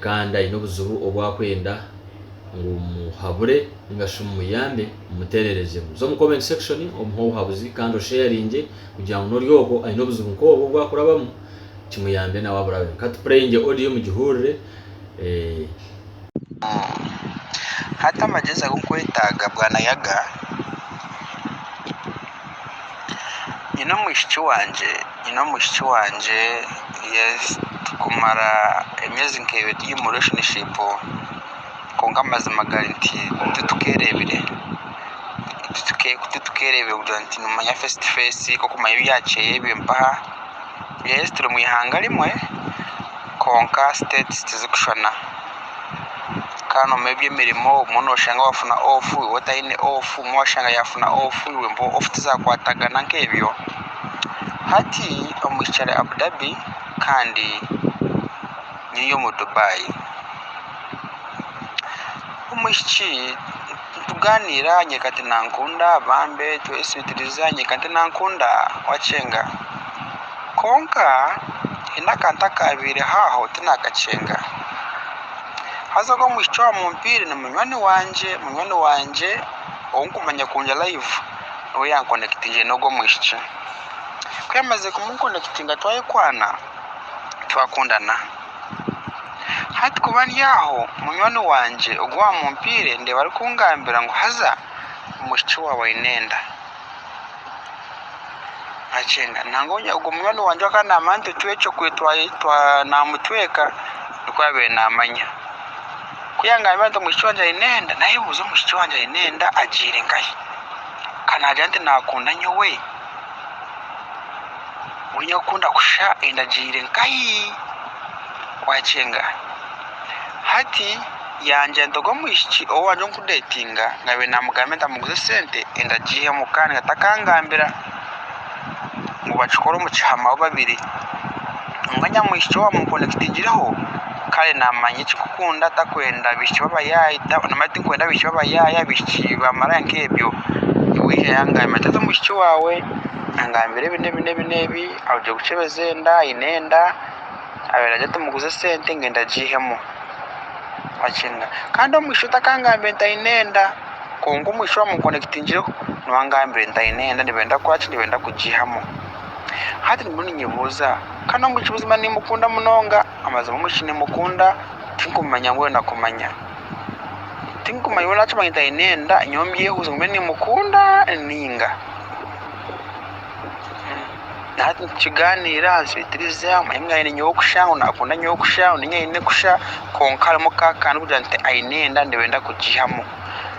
Kandi aine obuzibu obu akwenda ngu omuhabure ninga shi omuyambe, omuteererezemu. Za omu comment section omuhe obuhabuzi kandi osheyaringye kugira ngu n'ori okwo aine obuzibu nk'obwo obu akurabamu kimuyambe nawe aburabeho. Ka tupureyingye odiyo mugihurire. Hati amagyezi agu nkwetaaga bwanayaga. Nyine omwishiki wangye nyine omwishiki wangye yes tukumara emyezi nka ebiri turi omu relationship kwonka amazima gari nti titukerebire titukerebire kugira nti nomanya face to face kokumanya ebyakyeyo ebyo mpaha yes turi omwihanga rimwe Kwonka states tizikushushana kandi nomubyemirimu obumwe noshanga wafuna off iwe otayine off obumwe washanga yafuna off iwe mpaho off tizakwatagana nkebyo hati omwishiki Abu Dhabi kandi nyiri omu Dubai omwishiki Tugaaniira nyeka tinankunda Bambe tweswitiriza nyeka tinankunda Wakyenga Kwonka haine akantu akaabaireho aho tinakakyenga Haza ogwo omwishiki owamumpiire ni munywani wangye Munywani wangye ou nkumanya kurungi live niwe yankonekitingire n'ogwo omwishiki Ku yaamazire kumunkonekitinga twayekwana twakundana Hati ku bari aho, munywani wangye ogu waamumpaire ndeeba arikungambira ngu haza omwishiki waawe aine enda. Nangwa ogwo munywani wangye owaakaba naamanya nti otwekyo naamutweka nikwo yaabaire naamanya. Ku yaangambira nti omwishiki wangye aine enda, naayebuuza omwishiki wangye aine enda agiire nkahi? Ka naagira nti naakunda nyowe? Oine kukunda kusha endagiire nkahi? Wakyenga hati yangya ntoga omwishiki ou wangye ori kudetinga nabiire namugambira nti amuguze esente enda agiihemu kandi nga takangambira ngu bakikore omu kihama bo babiri. Nangwa nyamwishiki owa mukunda kitigireho kare namanya ekikukunda takwenda abishiki babayaye namanya tikwenda abishiki babayaye abishiki bamaraya nkebyo wija yangambira ati haza omwishiki wawe angambira ebi nebi nebi nebi arugire kukyebeza enda ayine enda abwera ati muguze esente ngenda agihemu wakina Kandi omwishiki otakangambire nti ayine enda kwonka omwishiki owa mukunda kitigireho nuwe angambire nti ayine enda nibenda kukoraki nibenda kugihamu Hati ndimu ninyebuuza ka n'omu ki buzima niimukunda munonga. Amazima omu ki niimukunda tinkumanya mbwenu nakumanya. Tinkumanya mbwenu naakimanya nti aine enda nyowe mbyehuuze ngume niimukunda nainga. Hati nitukigaaniira answeitiriza omanye ngu aine nyowe kusha, ngu naakunda nyowe kusha, ngu niinye aine kusha. Kwonka harimu ka akantu k'okugira nti aine enda ndeeba enda kugiihamu.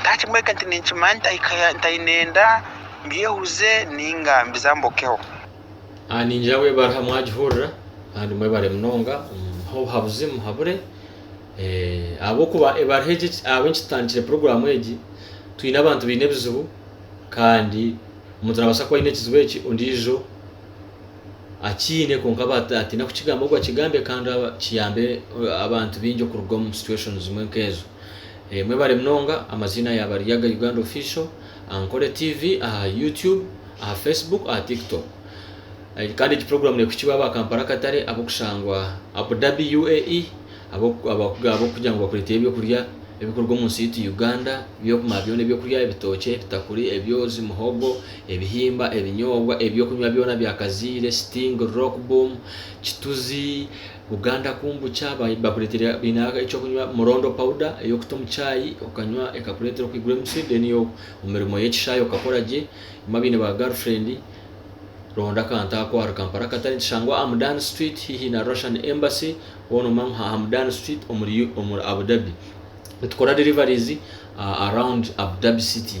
Ndakimweke nti ninkimanya ntaine enda, mbyehuze nainga mbizambokeho. A Niingira ahu ebariha mwagihurira, kandi mwebare munonga, muhe obuhabuzi, muhabure. Ahabw'okuba ebariha egi ahabw'enki tutandikire puroguraamu egi, twine abantu baine ebizibu, kandi omuntu naabaasa kuba aine ekizibu eki ondiijo akiine kwonka atiina kukigamba, ogwo akigambye kandi kiyambe abantu baingi okuruga omu situation zimwe nk'ezo. Mwebare munonga, amaziina yaba ari Yaga Uganda Official aha Nkore TV, aha YouTube, aha Facebook, aha Tiktok. Kandi egi program nekuhikibwa aba Kampala Katare, abokushangwa Abu Dhabi UAE, abokugira ngu bakureteyo ebyokurya ebikuruga omu nsi yaitu Uganda, byokumara byona ebyokurya, ebitookye, ebitakuri, ebyoozi, muhogo, ebihimba, ebinyoobwa, ebyokunywa byona bya kaziire, sting, rock boom, kituzi, Buganda kumbu kya bakuretere baine ekyokunywa murondo powder eyokuta omu chai okanywa ekakuretera okwigura emitsi then omumirimo yekishayi okakora gye bamwe abaine ba girlfriend ronda akantu ako ahari Kampala akatare nikishangwa aha Mudan street hihi na Russian embassy hoona omanywe aha Mudan street omuri Abu Dhabi nitukora deliveries around Abu Dhabi city.